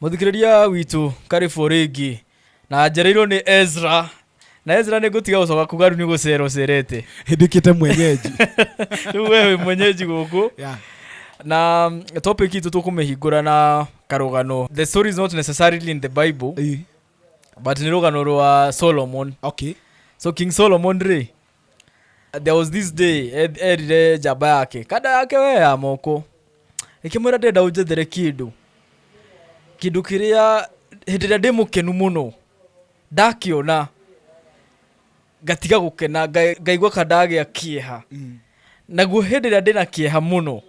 muthikiriria witũ karĩbũ rĩngĩ na njereirwo nĩ ezra na ezra nĩ ngũtiga gũcoka kuga rĩu nĩ gũcera ũcerete hĩndĩkĩte mwenyeji rĩu we wĩ mwenyeji gũkũ yeah. na mm, topic itũ tũkũmĩhingũra na karũgano the story is not necessarily in the bible Ĩ, but nĩ rũgano rwa solomon okay so king solomon rĩ There was this day eth- erire njamba yake kanda yake we ya moko ĩkĩmwĩra ndĩrenda ũnjethere kĩndũ kĩndũ kĩrĩa hĩndĩ ĩrĩa ndĩ mũkenu mũno ndakĩona ngatiga gũkena nga- ngaigua ka ndagĩa kĩeha naguo hĩndĩ ĩrĩa ndĩna kĩeha mũno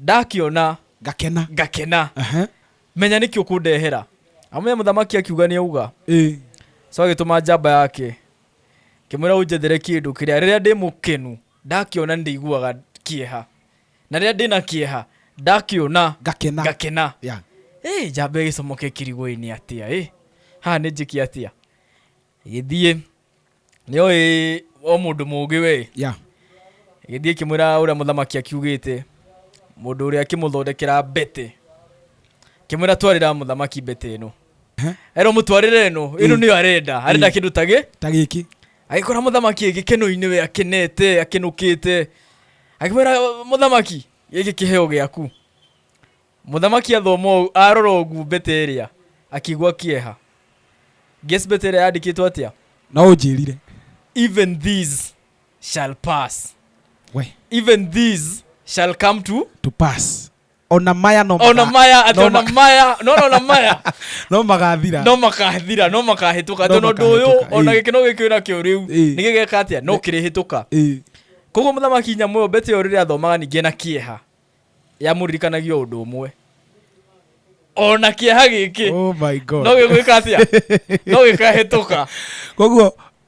ndakĩona ngakena ngakena Aha. menya nĩkĩ ũkũndehera amenya mũthamaki akiuga nĩ auga Ĩ. so agĩtũma njamba yake Ngĩmwĩra ũnjethere kĩndũ kĩrĩa rĩrĩa ndĩ mũkenu ndakĩona nĩ ndĩiguaga kĩeha, na rĩrĩa ndĩ na kĩeha ndakĩona Ngakena. ngakena. Yeah. Ĩ njamba ĩgĩcomoka ĩkĩrigwo ĩ nĩ atĩa ĩ haha nĩ njĩke atĩa? Ĩgĩthiĩ nĩoĩ o mũndũ mũũgĩ we Yeah. ĩgĩthiĩ ĩkĩmwĩra ũrĩa mũthamaki akiugĩte mũndũ ũrĩa akĩmũthondekera mbete akĩmwĩra twarĩra mũthamaki mbete ĩno erwo mũtwarĩre ĩno ĩno nĩyo arenda arenda Mm. kĩndũ tagĩ ta gĩkĩ agĩkora mũthamaki ĩ gĩkeno-inĩ we akenete akenũkĩte akĩmwĩra mũthamaki gĩkĩ kĩheo gĩaku mũthamaki athoma ũũ arora ũguo mbete ĩrĩa akĩigua kĩeha guess mbete ĩrĩa yandĩkĩtwo atĩa no ũnjĩrire even these shall pass we even these shall come to to pass ona maya no ona maga- maya ati no ona ma- maya no no ona maya no magathira no makathira no makahĩtũka No tondũ ũndũ ũyũ makahĩtũka, ona ĩĩ. gĩkeno gĩkĩ nakĩo rĩu Ĩĩ. nĩ gĩgeka atĩa no kĩrĩhĩtũka Ĩĩ. koguo mũthamaki nyamũ ĩyo mbete ĩyo rĩrĩa athomaga ningĩ na kĩeha yamũririkanagia ũndũ ũmwe ona kĩeha gĩkĩ Oh my God. no gĩgwĩka atĩa no gĩkahĩtũka koguo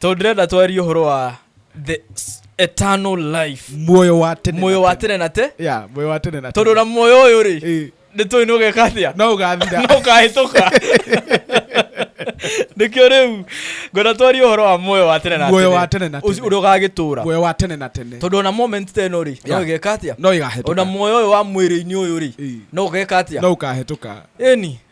tondũ ndĩrenda twarie ũhoro wa the s- eternal life muoyo wa tene muoyo wa tene na te ya muoyo wa tene na tondũ tene. na muoyo ũyũ rĩ Ĩ, nĩ tũĩ nĩ ũgeka atĩa no ũgathira no ũkahĩtũka nĩkĩo rĩu ngona twarie ũhoro wa muoyo wa tene na Muoyo wa tene na Ũcio tene. ũrĩa ũgagĩtũra muoyo wa tene na tene tondũ ona moment ta ĩno rĩ no Ya. ĩgeka atĩa no ona ĩgahĩtũka muoyo ũyũ wa mwĩrĩ-inĩ ũyũ rĩ Ĩ. no ũgeka atĩa no ũkahĩtũka ĩni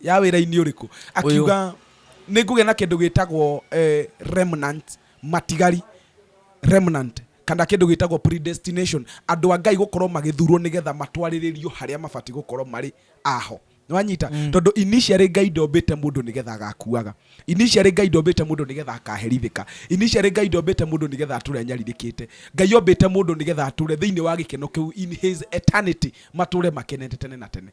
ya wĩra-inĩ ũrĩkũ akiuga nĩ ngũgĩa na kĩndũ gĩtagwo eh, remnant matigari remnant kana kĩndũ gĩtagwo predestination andũ a ngai gũkorwo magĩthurwo nĩgetha matwarĩrĩrio harĩa mabatiĩ gũkorwo marĩ aho nĩwanyita mm. tondå initiarä ngai ndombĩte må ndå nä getha agakuaga initiarä ngai ndombĩte må ndå nä getha akaherithĩka initiarä ngai ndombĩte må ndå nä getha atå re anyarirĩkä te ngai ombĩte må ndå nä getha atå re thä inä wa gä keno kä u in his eternity matå re makenete tene na tene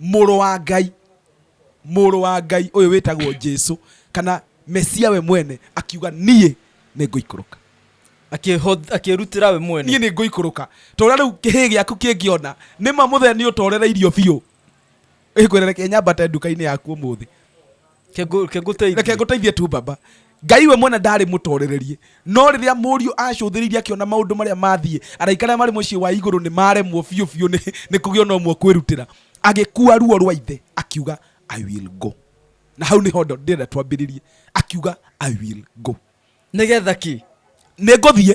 Mũrũ wa Ngai. Mũrũ wa Ngai ũyũ wĩtagwo Jesu, kana Mesia we mwene, akiuga, Niĩ nĩ ngũikũrũka. Akĩĩrutĩra we mwene. Niĩ nĩ ngũikũrũka. Ta ũrĩa rĩu kĩhĩĩ gĩaku kĩngĩona nĩ ma mũthee nĩ ũtorereirio biũ, gĩkwĩre, Reke nyambate nduka-inĩ yaku ũmũthĩ. reke ngũteithie tu baba ngai we mwene ndarĩ mũtorererie no rĩrĩa mũriũ acũthĩrĩirie akĩona maũndũ marĩa mathiĩ araika arĩa marĩ mũciĩ wa igũrũ nĩ maremwo biũ biũ nĩ kũgĩa ona ũmwe kwĩrutĩra agĩkua ruo rwa ithe akiuga i will go na hau nĩho ndĩrenda twambĩrĩrie akiuga i will go nĩgetha ki nĩ ngũthiĩ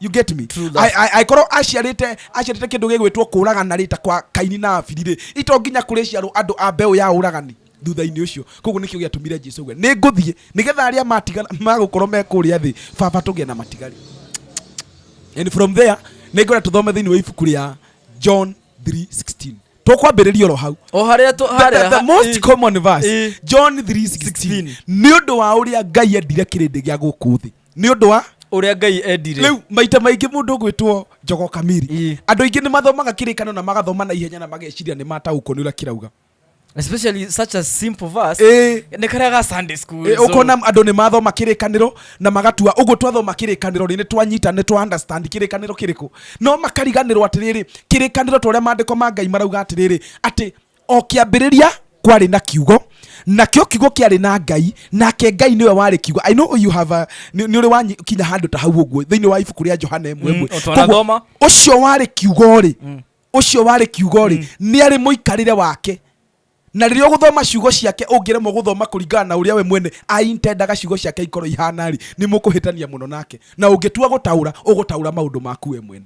you get me True that. I- I- angĩkorwo aciarĩte aciarĩte kĩndũ gĩgwĩtwo kũragana rĩ ta kwa kaini na abiri rĩ ito nginya kũrĩ ciarwo andũ a mbeũ ya ũragani thutha-inĩ ũcio koguo nĩkĩo gĩatũmire jesu uge nĩ ngũthiĩ nĩgetha arĩa matigana magũkorwo me kũrĩa thĩ baba tũgĩe na matigari and from there nĩngwenda tũthome thĩinĩ wa ibuku rĩa john 3:16 tũkwambĩrĩria oro hau o harĩa tũ- the, harĩa the, the most eh, common verse eh. john 3:16 nĩ ũndũ wa ũrĩa ngai endire kĩrĩndĩ gĩa gũkũ thĩ nĩ ũndũ wa ũrĩa ngai endire rĩu maita maingĩ mũndũ ũgwĩtwo njogo kamiri Ii. andũ aingĩ nĩ mathomaga kĩrĩkano na magathoma na ihenya na mageciria nĩ mataũkwo nĩ ũrĩa kĩrauga especially such a simple verse Ĩĩ. nĩ karĩa ga sunday school Ĩ, so- ũkona andũ nĩ mathoma kĩrĩkanĩro na magatua ũguo twathoma kĩrĩkanĩro rĩ nĩ twanyita nĩ twa understand kĩrĩkanĩro kĩrĩkũ no makariganĩrwo atĩrĩrĩ kĩrĩkanĩro ta ũrĩa maandĩko ma ngai marauga atĩrĩrĩ atĩ o kĩambĩrĩria kwarĩ na kiugo nakĩo kiugo kĩarĩ na ngai nake ngai nĩwe warĩ kiugo i know you have a, nĩ nĩ ũrĩ wakinya handũ ta hau ũguo thĩinĩ wa ibuku rĩa johana ĩmwe Mm, ĩmwe o twanathoma. Koguo, ũcio warĩ kiugo rĩ ũcio warĩ kiugo rĩ nĩ arĩ mũikarĩre wake na rĩrĩa ũgũthoma ciugo ciake ũngĩremwo gũthoma kũringana na ũrĩa we mwene aintendaga ciugo ciake ikorwo ihana rĩ nĩ mũkũhĩtania mũno nake na ũngĩtua gũtaũra ũgũtaũra maũndũ maku we mwene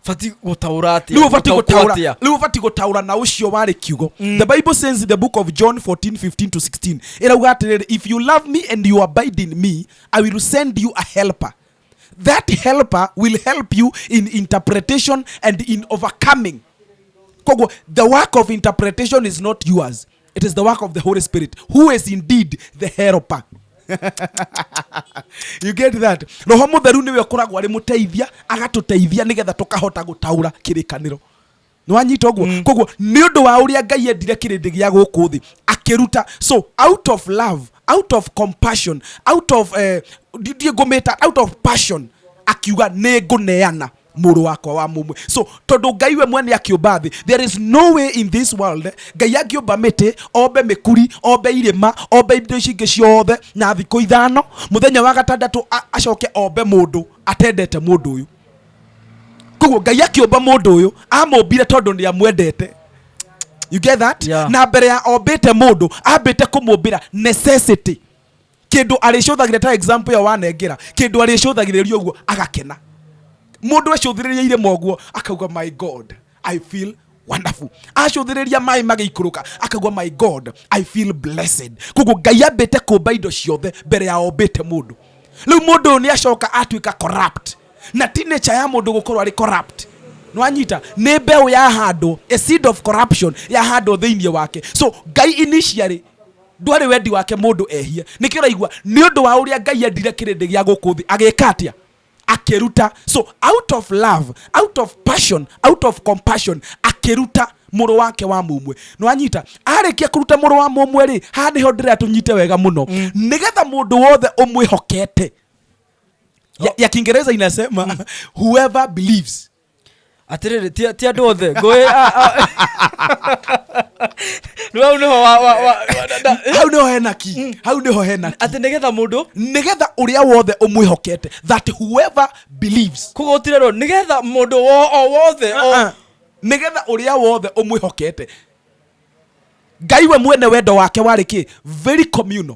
batiĩ gũtaũra atĩa rĩu ũbatiĩ Gũtaũkwo gũtaũra atĩa? rĩu ũbatiĩ gũtaũra na ũcio warĩ kiugo the bible says in the book of john 14 15 to 16 ĩrauga atĩrĩrĩ if you love me and you abide in me i will send you a helper that helper will help you in interpretation and in overcoming koguo the work of interpretation is not yours It is the work of the Holy Spirit, who is indeed the helper. you get that roho mutheru niwe ukoragwo ari muteithia agatuteithia nigetha tukahota gutaura kirikaniro nwanyita guo mm. koguo ni undu wa uria ngai endire kirindi gia guku thi akiruta so out of love out of compassion out of uh, eh, ndiä ngå mä ta out of passion akiuga nä ngå neana mũrũ wakwa wa mũmwe so tondũ ngai we mwene akĩũmba thĩ there is no way in this world ngai angĩũmba mĩtĩ ombe mĩkuri ombe irĩma ombe indo ici ingĩ ciothe na thikũ ithano mũthenya wa gatandatũ a- acoke ombe mũndũ atendete mũndũ ũyũ koguo ngai akĩũmba mũndũ ũyũ amũmbire tondũ nĩ amwendete you get that Yeah. na mbere ya ombĩte mũndũ ambĩte kũmũmbĩra necessity kindu aricũthagire ta example ya wanengera kindu aricũthagĩrĩria ũguo agakena mundu ecũthĩrĩria irĩma ũguo akauga my god i feel wonderful acũthĩrĩria maĩ magĩikũrũka akauga my god i feel blessed koguo ngai ambĩte kũmba indo ciothe mbere ya ombĩte mũndũ rĩu mũndũ ũyũ nĩ acoka atuĩka corrupt na ti nature ya mũndũ gũkorwo arĩ corrupt nwanyita nĩ mbeũ yahandwo a seed of corruption yahandwo thĩinĩ wake so ngai initially Ndwarĩ wendi wake mũndũ ehie. Nĩkĩ ũraigua? Nĩ ũndũ wa ũrĩa Ngai endire kĩrĩndĩ gĩa gũkũ thĩ, agĩka atĩa? Akĩruta. So, out of love, out of passion, out of compassion, akĩruta mũrũ wake wa mũmwe. Nĩ wanyita? Arĩkia kũruta mũrũ wa mũmwe rĩ, haha nĩho ndĩrenda tũnyite wega mũno. Mm. Nĩgetha mũndũ wothe ũmwĩhokete. Ya, ya Kiingereza inasema whoever believes atiriri ti ti andu othe ngui riu au niho wa wa wa hau nĩho hena ki hau nĩho hena ki ati nigetha mundu nĩgetha ũrĩa wothe ũmwĩhokete that whoever believes koguo utirerwo nigetha mundu wo o wothe o Ah, nĩgetha ũrĩa wothe ũmwĩhokete ngai we mwene wendo wake warĩ kĩ very communal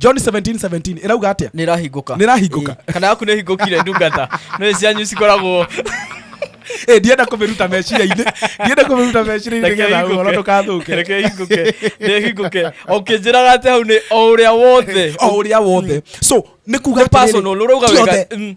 john 17:17 ĩrauga atĩa nä rahingåka Nĩ ĩrahingũka. kana yaku nä hingåkire ndungata nä cianyu cikoragwo Eh, ndienda kũmĩruta meciria-inĩ ndienda kũmĩruta meciria-inĩ Reke nĩgetha ĩhingũke. ũhoro ndũkathũke reke hingũke nä hingũke o kä njä raga atä hau nä o å rä a wothe o ũrĩa wothe so nä kuga Nĩ personal, ũrauga wega, mm.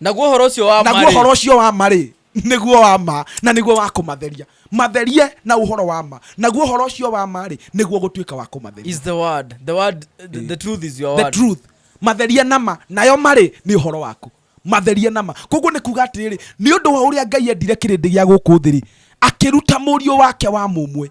naguo horo ũcio wa naguo marĩ horo ũcio wa marĩ nĩguo wa ma na nĩguo wa kũmatheria matherie na ũhoro wa ma naguo ũhoro ũcio wa ma rĩ nĩguo gũtuĩka wa kũmatheria is the word the word the, the truth is your the word truth matherie na ma nayo marĩ nĩ ũhoro waku matherie na ma koguo nĩ kuga atĩrĩrĩ nĩ ũndũ wa ũrĩa ngai endire kĩrĩndĩ gĩa gũkũ thĩ-rĩ akĩruta mũriũ wake wa mũmwe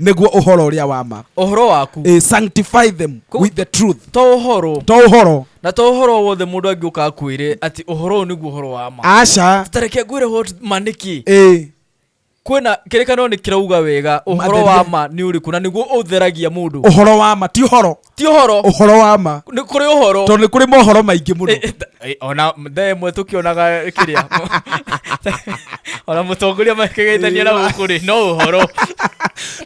nĩguo ũhoro ũrĩa wa ma ũhoro waku Eh, sanctify them Kũ- with the truth to ũhoro to ũhoro na to ũhoro wothe mũndũ angĩũka akwĩre atĩ ũhoro ũyũ nĩguo ũhoro wa ma aca tareke ngwĩre what ma nĩ kĩ eh, kwĩna kĩrĩkanĩro nĩ kĩrauga wega ũhoro wa Matheria. ma nĩ ũrĩkũ na nĩguo ũtheragia mũndũ ũhoro wa ma ti ũhoro ti ũhoro ũhoro wa ma nĩ kũrĩ ũhoro tondũ nĩ kũrĩ mohoro maingĩ mũno Eh, eh, ta- eh, ona thaa ĩmwe tũkĩonaga kĩrĩa ona mũtongoria makĩgeithania na gũkũ rĩ no ũhoro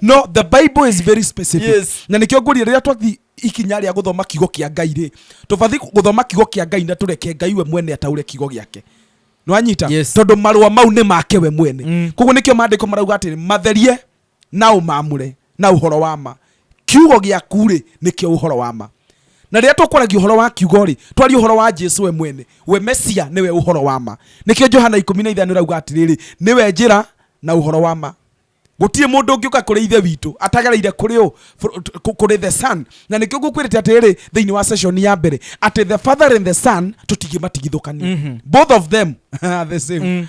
no the bible is very specific Yes. na nĩkĩo ngũria rĩrĩa twathi ikinya rĩa gũthoma kiugo kĩa ngai rĩ tũbathi gũthoma kiugo kĩa ngai na tũreke ngai we mwene ataure kiugo gĩake nĩwanyita Yes. tondũ marũa mau nĩ make we mwene Mm. koguo nĩkĩo maandĩko marauga atĩrĩ matherie na ũmaamũre na ũhoro wa ma. Kiugo gĩaku-rĩ, nĩkĩo ũhoro wa ma. Na rĩrĩa tũkwaragia ũhoro wa Kiugo-rĩ, twaria ũhoro wa Jesu we mwene. We Mesia nĩwe ũhoro wa ma. Nĩkĩo Johana ikũmi na ithano ĩrauga atĩrĩrĩ, Nĩwe njĩra, na ũhoro wa ma. Gũtirĩ mũndũ ũngĩũka kũrĩ Ithe witũ atagereire kũrĩ ũ? Kũrĩ the Son. Na nĩkĩo ngũkwĩrĩte atĩrĩrĩ thĩinĩ wa session ya mbere atĩ the Father and the Son tũtingĩmatigithũkania. Both of them are the same.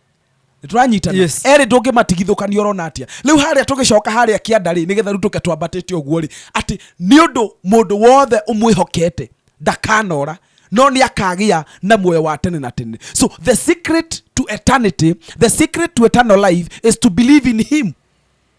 nĩtũranyitana Yes. erĩ ndũngĩmatigithũkania ũrona atia rĩu harĩa tũgĩcoka harĩa kĩanda rĩ nĩgetha rĩu tũke twambatĩte ũguo rĩ atĩ nĩ ũndũ mũndũ wothe ũmwĩhokete ndakanora no nĩ akagĩa na muoyo wa tene na tene so the secret to eternity the secret to eternal life is to believe in him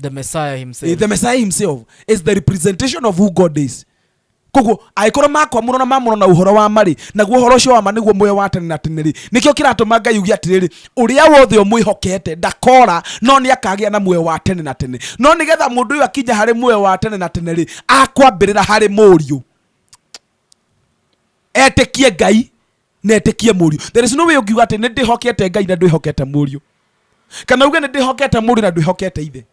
the messiah himself Eh, the messiah himself is the representation of who god is koguo angĩkorwo makwamũrwo na mamũrwo na ũhoro wa marĩ naguo ũhoro ũcio wa ma nĩguo muoyo wa tene na tene rĩ nĩkĩo kĩratũma ngai uge atĩrĩrĩ ũrĩa wothe ũmwĩhokete ndakora no nĩ akagĩa na muoyo wa tene na tene no nĩgetha mũndũ ũyũ akinya harĩ muoyo wa tene na tene rĩ akwambĩrĩra harĩ mũriũ etĩkie ngai netĩkie mũriũ there is no way ũngiuga atĩ nĩ ndĩhokete ngai na ndwĩhokete mũriũ kana uge nĩ ndĩhokete mũriũ na ndwĩhokete ithe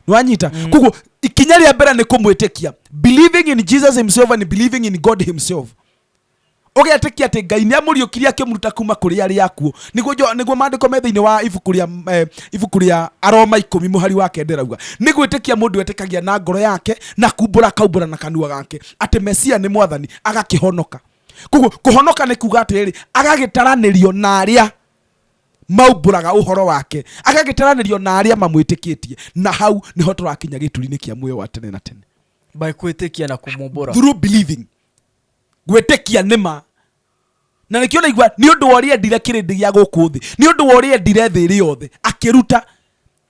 nĩwanyita mm. koguo ikinya rĩa mbere nĩ kũmwĩtĩkia believing in jesus himself and believing in god himself ũgetĩkia atĩ ngai nĩ amũriũkirie akĩmuruta kuma kũrĩ arĩa akuo nĩguo jo- nĩguo maandĩko me thĩinĩ wa ibuku rĩa eh, ibuku rĩa aroma ikũmi mũhari wa kenda ĩrauga nĩ gwĩtĩkia mũndũ etĩkagia na ngoro yake na kumbũra akaumbũra na kanua gake atĩ mesia nĩ mwathani agakĩhonoka koguo kũhonoka nĩ kuga atĩrĩrĩ agagĩtaranĩrio na arĩa maumbũraga ũhoro wake agagĩtaranĩrio na arĩa mamwĩtĩkĩtie na hau nĩho tũrakinya gĩturi-inĩ kĩa muoyo wa tene na tene by kwĩtĩkia na kũmumbũra through believing gwĩtĩkia nĩma na nĩkĩo naigua nĩ ũndũ wa ũrĩa endire kĩrĩndĩ gĩa gũkũ thĩ nĩ ũndũ wa ũrĩa endire thĩ ĩrĩ yothe akĩruta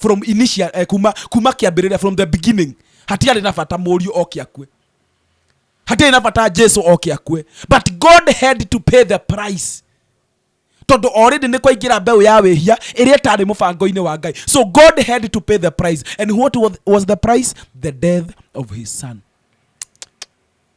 from initial eh, kuma kuma kiambiriria from the beginning hatiarĩ na bata mũriũ oke akue hatiarĩ na bata jesu oke akue but god had to pay the price tondå orĩndä nä kwaingä mbeũ ya wĩhia ĩrĩa ĩtarĩ mũbango-inĩ wa ngai so god had to pay the price and what was, was the price the death of his son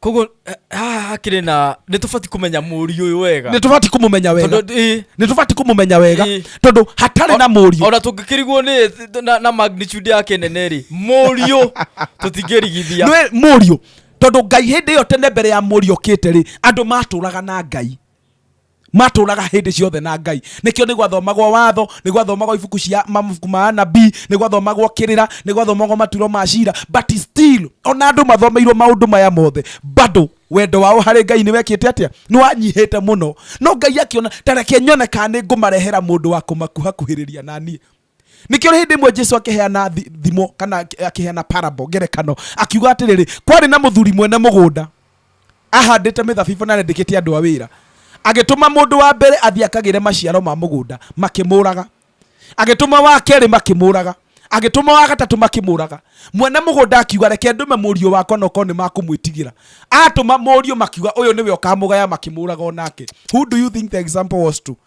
koguo haha hakĩrĩ na nĩ tũbatiĩ kũmenya mũriũ ũyũ wega nä tå batiä kå må menya wega Tondũ, ĩ, nä tå batiä kå må menya wega Ĩ. tondå hatarä na må riå ona tũngĩkĩrigwo nĩ na, na magnitude yake nene rĩ mũriũ tũtingĩrigithia må riå tondå ngai hä ndä ä yo tene mbere ya må riå kä te rä andå matå raga na ngai matũraga hĩndĩ ciothe na ngai nĩkĩo nĩ gwathomagwo watho nĩ gwathomagwo ibuku cia mabuku ma anabii nĩ gwathomagwo kĩrĩra nĩ gwathomagwo maturo ma cira but still ona andũ mathomeirwo maũndũ maya mothe bado wendo wao harĩ ngai nĩ wekĩte atĩa nĩ wanyihĩte mũno no ngai akĩona tareke nyone kana nĩ ngũmarehera mũndũ wa kũmakuhakuhĩrĩria na niĩ nikio hindi imwe jesu akiheana thi- thimo kana aki- akiheana parable ngerekano akiuga atiriri kwari na muthuri mwene mugunda ahandite mithabibu na arendikite andu a wira agituma mundu wa mbere athi akagire maciaro ma mugunda makimuraga agituma wa keri makimuraga agituma wa gatatu makimuraga mwene mugunda akiuga reke ndume murio wakwa na ukorwo ni makumwitigira atuma murio makiuga uyu niwe ukamugaya makimuraga onake who do you think the example was to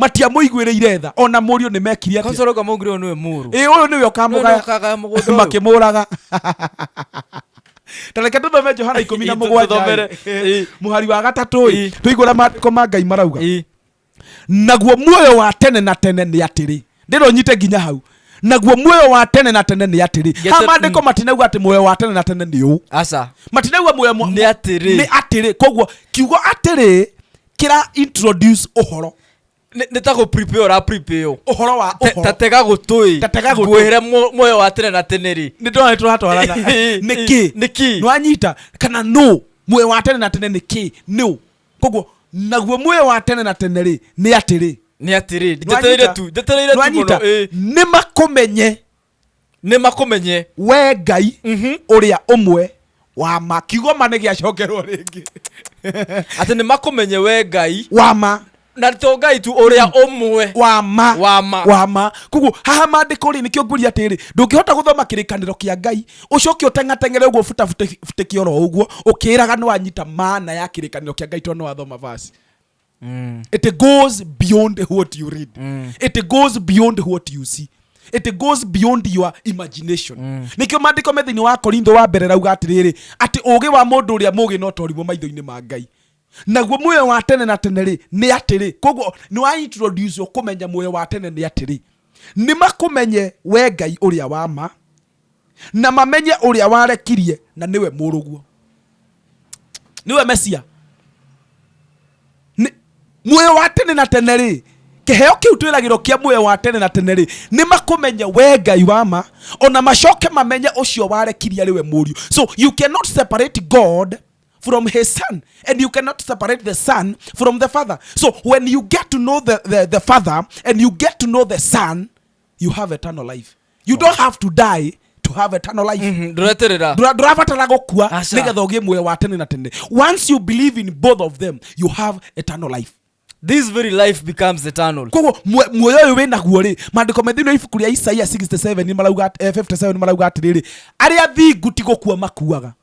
matiamũiguĩrĩire tha ona mũriũ nĩ mekire atĩa Konsolo kama ungiro niwe muru. ĩ ũyũ nĩwe ũkamũgaya Ũkamũgaya mũgũnda ũyũ. makĩmũraga tareke tũthome johana ikũmi na Ĩ, mũgwanja tũthomere. ĩ, mũhari wa gatatũ ĩ Ĩ. tũigũra maandĩko ma ngai marauga Ĩ, naguo muoyo wa tene na tene nĩ atĩrĩ ndĩrä å nyite nginya hau naguo muoyo wa tene na tene nä atĩrä Gete- ha mandä ko matinauga atä muoyo wa tene na tene nä å Aca. matinauga muoyo mwa- Nĩ atĩrĩ. nĩ atĩrĩ koguo kiugo atĩrĩ kĩra introduce ũhoro Nĩ- nĩ ta gå prepare ũra prepare ũ. ũhoro wa Te- ta ũhoro tega gå tå Ta tega gũtũ. ngwä re muoyo wa tene na tene rä nĩ ndona nĩ tũratwarana nĩ kĩ Nĩ kĩ? nwanyita kana nũ muoyo wa tene na tene nĩ kĩ nũ koguo naguo muoyo wa tene na tene rĩ nĩ atĩrĩ nä atä rä njetereire tu njetereire tu må no nä makũmenye nĩ makũmenye we ngai Mhm. ũrĩa ũmwe wa ma kiugo ma nĩ gĩacokerwo rĩngĩ atĩ nĩ makũmenye we ngai wa ma na to ngai tu ũrĩa ũmwe wa ma Wa ma. wa ma koguo haha mandĩko rĩ nĩkĩo ngũria atĩrĩ ndũngĩhota gũthoma kĩrĩkanĩro kĩa ngai ũcoke ũtengatengere ũguo butabutĩki oro ũguo ũkĩraga nĩ wanyita maana ya kĩrĩkanĩro kĩa ngai tondũ nĩ wathoma vasi mm. it goes beyond what you read mm. it goes beyond what you see it goes beyond your imagination mm. nikio mandiko me thiini wa korintho wa mbere rauga atiriri ati ugi wa mundu uria mugi no torimwo maitho-ini ma ngai naguo muoyo wa tene na tene ri ni atiri koguo ni wa introduce kumenya muoyo wa tene ni atiri ni makumenye we ngai uria wa ma Na mamenye ũrĩa warekirie na nĩwe mũrũguo. Nĩwe Mesia. Muoyo wa tene na tene rĩ, kĩheo kĩu twĩragĩrwo kĩa muoyo wa tene na tene rĩ, nĩ makũmenye we Ngai wa ma, ona macoke mamenye ũcio warekirie arĩ we mũriũ. So you cannot separate God from his son and you cannot separate the son from the father so when you get to know the, the, the father and you get to know the son you have eternal life you don't have to die to have eternal life mm -hmm. ndũreterera Ndũra- ndũrabatara gũkua Aca. nĩgetha ũgĩe muoyo wa tene na tene once you believe in both of them you have eternal life this very life becomes eternal koguo muo- muoyo ũyũ wĩ naguo rĩ maandĩko me thĩinĩ wa ibuku rĩa isaia 67 nĩ marauga at- eh, 57 nĩ marauga atĩrĩrĩ arĩa thingu ti gũkua makuaga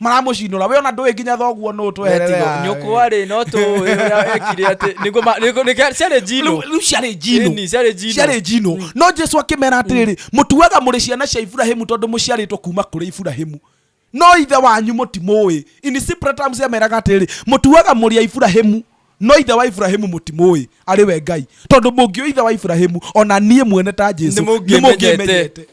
maramũcinũra we ona ndũĩ nginya thoguo nũ tweherera nyũkwa rĩ no tũĩ ũrĩa ekire atĩ nĩguo ma- nĩguo- nĩkĩa- ciarĩ njino Rĩu- rĩu ciarĩ njino Ĩni, ciarĩ njino ciarĩ njino no jesu akĩmera atĩrĩrĩ mũtuaga mũrĩ ciana cia iburahimu tondũ mũciarĩtwo kuma kũrĩ iburahimu no ithe wanyu mũtimũĩ inisipratams ameraga atĩrĩrĩ mũtuaga mũrĩ a iburahimu no ithe wa iburahimu mũtimũĩ arĩ we ngai tondũ mũngĩũ ithe wa iburahimu ona niĩ mwene ta jesu Nĩmũngĩmenyete. nĩmũngĩmenyete.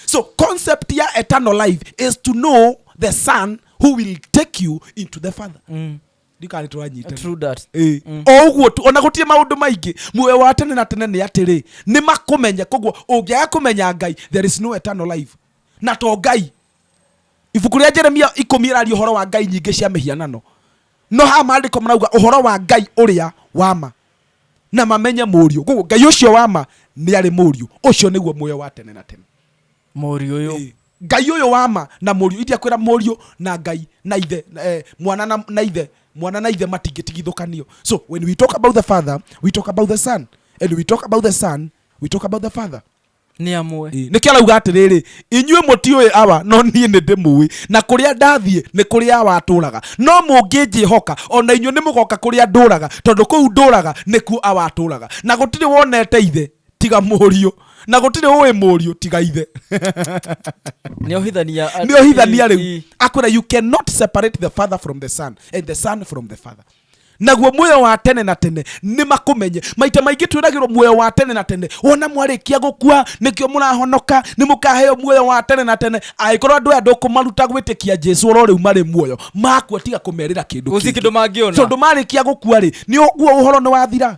So concept ya eternal life is to know the son who will take you into the father. Mm. Ndikari twanyita. True that. Eh. Mm. O guo tu ona gutie maundu maingi muoyo wa tene na tene ni atiri ni makumenya koguo ungiaga kumenya Ngai there is no eternal life. Na to Ngai. Ibuku ria Jeremia ikumi iraria horo wa Ngai nyingi cia mihianano. No ha maandiko marauga horo wa Ngai uria wa ma. na mamenye mũriũ koguo ngai ũcio wa ma nĩ arĩ mũriũ ũcio nĩguo muoyo wa tene na tene mũriũ ũyũ Ĩĩ. ngai ũyũ wa ma na mũriũ indiakwĩra mũriũ na ngai na ithe na, eh, mwana na, na ithe mwana na ithe matingĩtigithũkanio so when we talk about the father we talk about the son and we talk about the son we talk about the father nĩ amwe Ĩ, nĩkĩo arauga atĩrĩrĩ inyuĩ mũtiũĩ awa no niĩ nĩ ndĩmũĩ na kũrĩa ndathiĩ nĩ kũrĩa awa atũraga no mũngĩnjĩhoka ona inyuĩ nĩ mũgoka kũrĩa ndũraga tondũ kũu ndũraga nĩkuo awa atũraga na gũtirĩ wonete ithe tiga mũriũ na gũtirĩ ũĩ mũriũ tiga ithe nĩ ohithania nĩ ohithania rĩu akwĩra you cannot separate the father from the son and the son from the father naguo muoyo wa tene na tene nĩ makũmenye maita maingĩ twĩragĩrwo muoyo wa tene na tene wona mwarĩkia gũkua nĩkĩo mũrahonoka nĩ mũkaheo muoyo wa tene na tene angĩkorwo andũ aya ndũkũmaruta gwĩtĩkia jesu oro rĩu marĩ muoyo makua tiga kũmerĩra kĩndũ Gũtirĩ kĩngĩ. kĩndũ mangĩona. tondũ marĩkia gũkua rĩ nĩ ũguo ũhoro nĩ wathira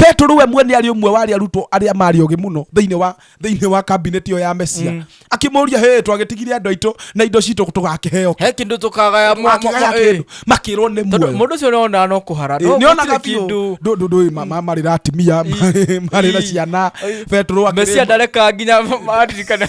Petero we mwene arĩ ũmwe wa arĩa arutwo arĩa marĩ ogĩ mũno thĩinĩ wa thĩinĩ wa kabineti ĩyo ya Mesia mm. akĩmũria hĩ twagĩtigire andũ aitũ na indo citũ tũgakĩheo he kĩndũ tũkagaya makĩrwo nĩ muoyo mũndũ ũcio nĩonaga no kũhara nĩonaga biũ ndũĩ marĩ na atimia marĩ na ciana Petero Mesia ndareka nginya maririkana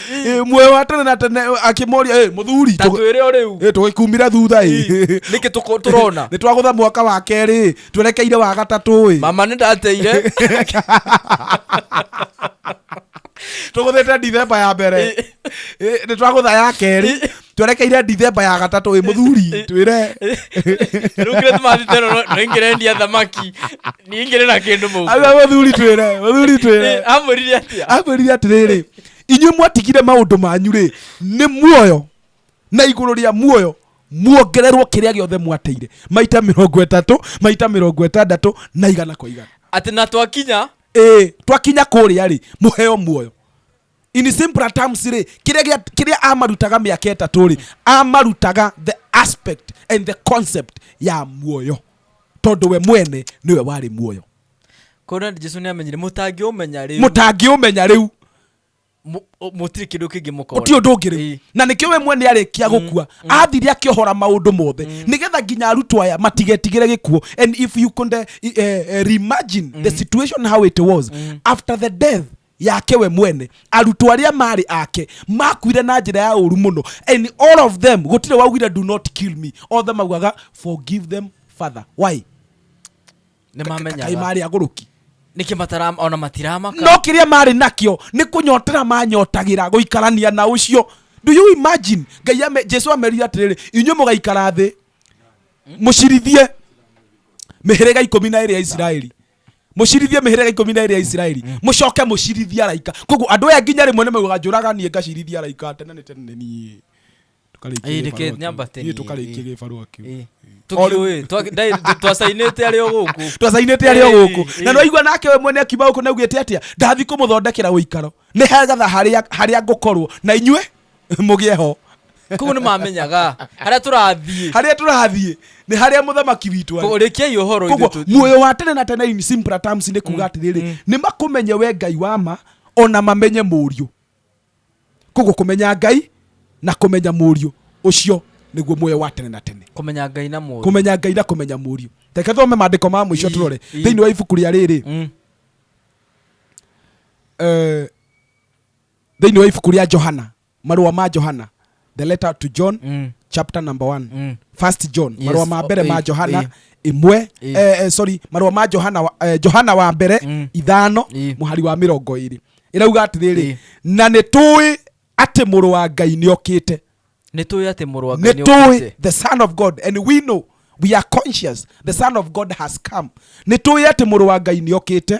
Eh, muoyo wa tene na tene eh, akĩmoria eh, mũthuri ta tũ- twĩre o rĩu eh, tũgĩkumire thutha ĩ nĩkĩ tũko- tũrona nĩ twagũtha mwaka wa kerĩ twerekeire wa gatatũ ĩ mama nĩ ndateire tũgũthĩte ndithemba ya mbere Eh, nĩ twagũtha ya kerĩ twerekeire ndithemba ya gatatũ ĩ mũthuri twĩre rĩu kĩrĩa tũmathite no noingĩrendia thamaki ningĩrĩ na kĩndũ mũhuko. Aria mũthuri twĩre mũthuri twĩre Eh, amwĩrire atĩa amwĩrire atĩrĩrĩ inyuĩ mwatigire maũndũ manyu rĩ nĩ muoyo na igũrũ rĩa muoyo muongererwo kĩrĩa gĩothe mwateire maita mĩrongo ĩtatũ maita mĩrongo ĩtandatũ na igana kwa igana atĩ na twakinya ĩĩ twakinya kũrĩa rĩ mũheo muoyo in simpler terms rĩ kĩrĩa gĩa- kĩrĩa amarutaga mĩaka ĩtatũ rĩ amarutaga the aspect and the concept ya muoyo tondũ we mwene nĩwe warĩ muoyo Kona Jesu nä amenyire må tangä å menya rä mũtangĩũmenya rĩu må tirä kä ndå kä ngä må kona gũtirĩ ũndũ ũngĩ rĩu Ĩĩ. na nĩkĩo we mwene arĩkia gũkua athire akĩohora maũndũ mothe nĩgetha nginya arutwo aya matigetigĩre gĩkuo and if you could uh, uh, reimagine the situation how it was after the death yake we mwene arutwo arĩa marĩ ake makuire na njĩra ya ũru mũno and all of them gũtirĩ waugire do not kill me othe maugaga forgive them father why nĩ kaĩ mamenyaga marĩ agũrũki nĩkĩ matara ona matiramaka no kĩrĩa marĩ nakĩo nĩ kũnyotera manyotagĩra gũikarania na ũcio do you imagine ngai ame, jesu amerire atĩrĩrĩ inyuĩ mũgaikara thĩ mũcirithie mĩhĩrĩga ikũmi na ĩrĩ ya isiraeli mũcirithie mĩhĩrĩga ikũmi na ĩrĩ ya isiraeli mũcoke mũcirithie araika koguo andũ aya nginya rĩmwe nĩmaugaga njũraganie ngacirithia araika tene nĩ tene nĩ niĩ tũkarĩkia Ĩĩ, gĩbarũa reke kĩu. nyambate Ĩĩ, niĩ. tũkarĩkia Ĩĩ. gĩbarũa kĩu Ĩĩ. Tũkiũĩ, twa- ndai- twacainĩte arĩ o gũkũ twacainĩte arĩ o Ĩĩ, gũkũ ĩĩ. na nĩwaigua nake we mwene akiuma gũkũ naugĩte atĩa ndathi kũmũthondekera ũikaro nĩ hegatha harĩa harĩa ngũkorwo na inyuĩ mũgĩe ho kũu nĩ mamenyaga harĩa tũrathiĩ harĩa tũrathiĩ nĩ harĩa mũthamaki witũ arĩ. kũrĩkiai ũhoro koguo ithuĩ tũ- muoyo wa tene na tene in simple terms nĩ kuga atĩrĩrĩ nĩ makũmenye we ngai wa ma ona mamenye mũriũ koguo kumenya ngai na kumenya muriu ucio niguo muoyo wa tene na tene kumenya ngai na muriu kumenya ngai na kumenya muriu reke thome mandiko ma muico turore thiini wa ibuku ria riri mm. eh, thiini wa ibuku ria johana marua ma johana the letter to john Mm. chapter number one Mm. first john Yes. marũa ma mbere Oh, ma eh, johana eh. ĩmwe Eh. eh, eh, sorry marũa ma johana wa- eh, johana wa mbere Mm. ithano Eh. mũhari wa mĩrongo ĩrĩ ĩrauga atĩrĩrĩ Eh. na nĩ tũĩ atĩ mũrũ wa ngai nĩ okĩte nä tå ä atä må rwa nĩ tũĩ the son of god and we know we are conscious the son of god has come nĩ tũĩ atĩ mũrũ wa ngai nĩ okĩte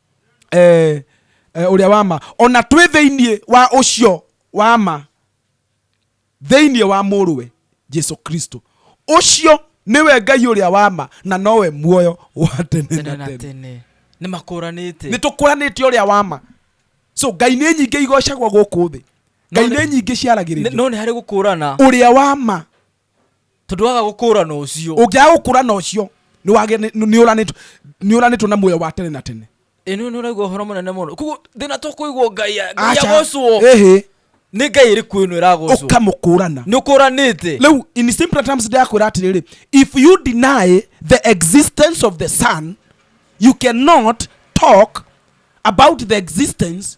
eh, eh, ũrĩa wa ma ona twĩ thĩinĩ wa ũcio wa ma thĩinĩ wa mũrũwe jesu kristo ũcio nĩwe ngai ũrĩa wa ma na nowe muoyo wa tene tene na na tene tene nĩ makũranĩte nĩ tũkũranĩte ũrĩa wa ma so ngai nĩ nyingĩ igocagwo gũkũ thĩ ngai No nĩ- nĩ nyingĩ Nĩ- ciaragĩrĩrio no nĩ harĩ gũkũrana ũrĩa wa ma tondũ waga gũkũũrana ũcio ũngĩaga gũkũũrana ũcio nĩũranĩtwo na muoyo wa tene na tene ĩno nĩ ũraigua ũhoro mũnene mũno koguo thĩna to kũigua ngai agocwo nĩ ngai ĩrĩ kuo ĩno ĩragocwo ũkamũkũrana nĩ ũkũranĩte rĩu in simple terms ndĩrakwĩra atĩrĩrĩ if you deny the existence of the sun you cannot talk about the existence